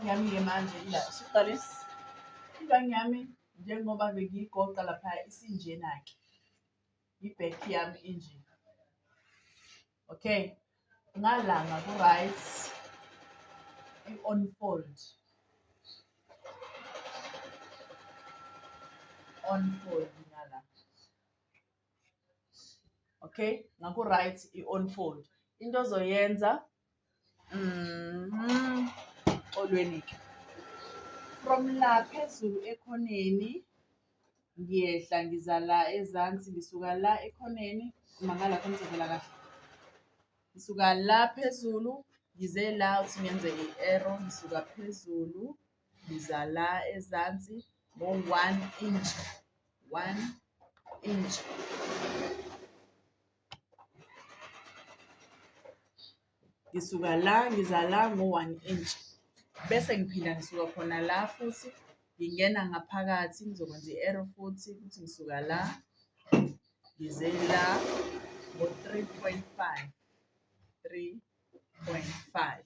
Yami ke manje ila siqale ingane yami njengoba bengiyigoqa lapha isinjena-ke i-back yami inje okay ngalanga ku-right i-unfold unfold ngala okay ngaku-right i-unfold into ozoyenza Mhm. Xolweni ke. From la phezulu ekhoneni ngiyehla ngiza la ezansi ngisuka la ekhoneni mangala khona ngizovela kahle. Ngisuka la phezulu ngize la uthi ngenze i-arrow ngisuka phezulu ngiza la ezansi ngo-one inch one inch ngisuka la ngiza la ngo-one inch bese ngiphinda ngisuka khona la futhi ngingena ngaphakathi ngizokwenza i-arrow futhi ukuthi ngisuka la ngize la ngo-three point five three point five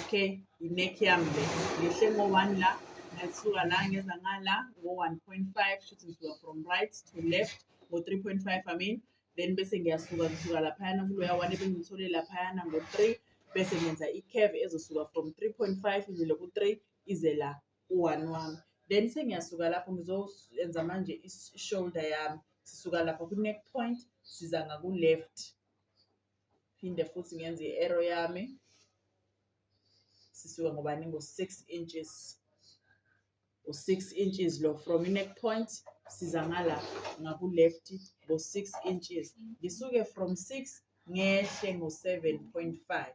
okay i-neck yami le ngehle ngo-one la ngasuka la ngeza ngala ngo-one point five shuthi ngisuka from right to left ngo-three point five i mean then bese ngiyasuka ngisuka laphayana kuloya one ebengithole laphayana ngo-three bese ngenza i-cave ezosuka from three point five izele ku-three ize la u-one wami then sengiyasuka lapho ngizoyenza manje i-shoulder yami sisuka lapho kwi-neck point siza ngaku-left phinde futhi ngenze i-arrow yami sisuke ngobani ngo-six inches u-six inches lo from i-neck point siza ngala ngaku-left ngo-six inches ngisuke from six ngehle ngo-seven point five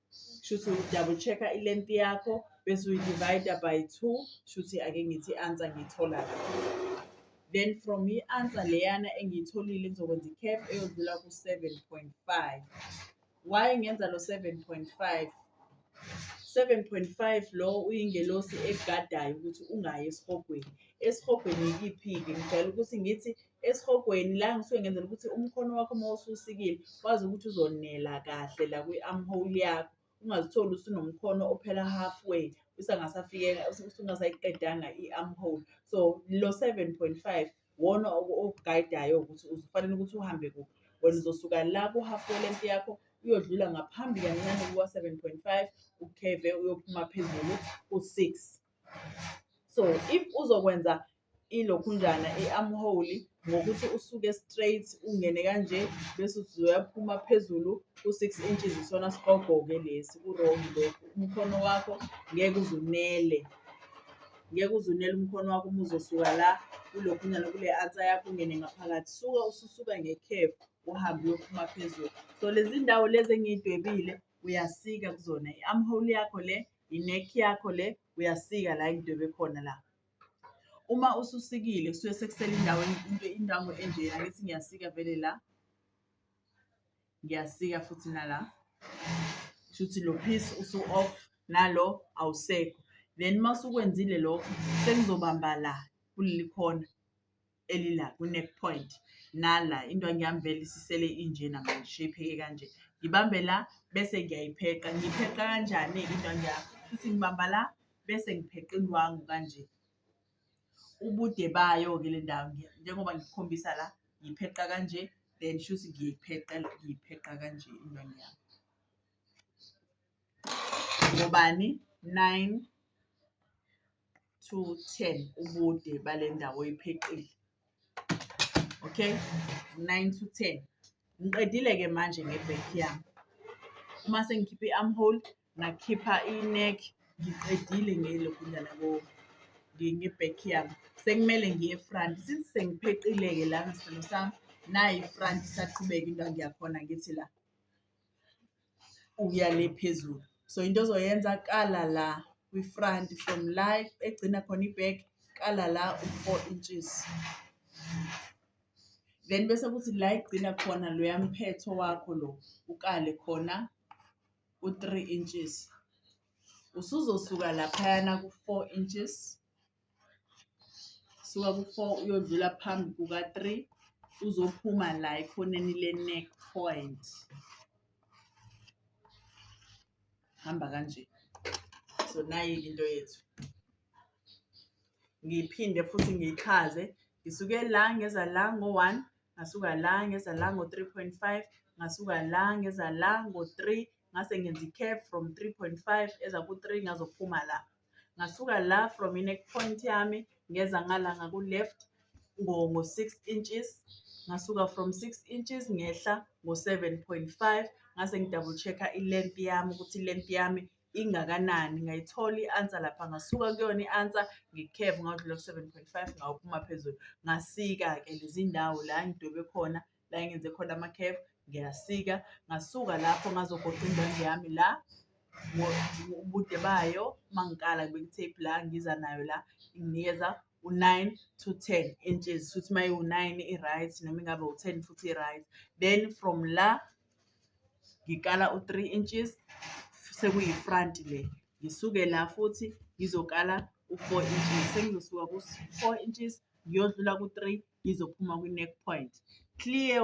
shuthi uyi-double check-a i-length yakho bese uyi-divide-a by two shuthi ake ngithi i-answer ngiyithola then from i-answer leyana engiyitholile kuzokwenza i-cap eyodlula ku-seven point five why ngenza lo seven point five seven point five lo uyingelosi egadayo ukuthi ungayi esihogweni esihogweni yikiphi-ke ngijwayele ukuthi ngithi esihogweni la ngisuke ngenzela ukuthi umkhono wakho uma ususikile wazi ukuthi uzonela kahle la kwi-armhole yakho ungazitholi usunomkhono ophela halfway usangasafikeka usungasayiqedanga i-armhole so lo seven point five wona okugayidayo ukuthi ufanele ukuthi uhambe kuphi wena uzosuka la ku-halfway length yakho uyodlula ngaphambi kancane kuka-seven point five ukheve uyophuma phezulu ku-six so if uzokwenza ilokhunjana i-armhole ngokuthi usuke straight ungene kanje bese uthi uyaphuma phezulu ku-six inches isona sigogo-ke lesi ku-wrong lokhu umkhono wakho ngeke uzunele ngeke uzunele umkhono wakho uma uzosuka la kulokhunyana kule ansa yakho ungene ngaphakathi suka ususuka ngekhefu uhambe uyophuma phezulu so lezi ndawo lezi engiyidwebile uyasika kuzona i-armhole yakho le i-neck yakho le uyasika la engidwebe khona la uma ususikile kusuke sekusele indawo into indawo enjena ngithi ngiyasika vele la ngiyasika futhi nala shuthi lo piece usu off nalo awusekho then uma usukwenzile lokho sengizobamba la kuleli khona elila kwi-neck point nala indwangu yami vele isisele inje namanje sheyipheke kanje ngibambe la bese ngiyayipheqa ngiyipheqa kanjani-ke indwangu yami futhi ngibamba la bese ngipheqa indwangu kanje ubude bayo-ke le ndawo njengoba ngikukhombisa la ngiyipheqa kanje then shuthi ngiyipheqa ngiyipheqa kanje indwangu yami ngobani nine to 10 ubude bale ndawo oyipheqile okay 9 to 10 ngiqedile-ke manje ngebek yami uma sengikhipha i-armhole ngakhipha i-neck ngiqedile ngelokhu njana ngebek yami sekumele ngiye front since sengipheqile-ke la ngesicelo sami nayi front isaqhubeka into angiyakhona ngithi la ukuya le phezulu so into ozoyenza kala la kwi-front from la egcina khona i-back kala la u-four inches then bese kuthi la egcina khona loya mphetho wakho lo ukale khona u-three inches usuzosuka laphayana ku-four inches suka ku-four uyodlula phambi kuka-three uzophuma la ekhoneni le-neck point hamba kanje so nayi into yethu ngiphinde futhi ngiyichaze ngisuke la ngeza la ngo-one ngasuka la ngeza la ngo-three point five ngasuka la ngeza la ngo-three ngase ngenza i-cap from three point five eza ku-three ngazophuma la ngasuka la from i-neck point yami ngeza ngala ngaku-left ngo-six inches ngasuka from six inches ngehla ngo-seven point five ngase ngi-double check-a i-length yami ukuthi i-length yami ingakanani ngayithola i-answer lapha ngasuka kuyona i-answer ngikheve ngadlula ku-seven point five ngawaphuma phezulu ngasika-ke lezi ndawo la ngidwebe khona la engenze khona ama-caf ngiyasika ngasuka lapho ngazogoqa indwangu yami la ubude bayo uma ngikala ngibeka i-tape la ngiza nayo la inginikeza u-nine to ten inches futhi uma iwu-nine i-right noma ingabe u-ten futhi i-right then from la ngikala u-three inches sekuyi-front le ngisuke la futhi ngizokala u-four inches sengizosuka ku-four inches ngiyodlula ku-three ngizophuma kwi-neck point clear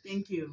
thank you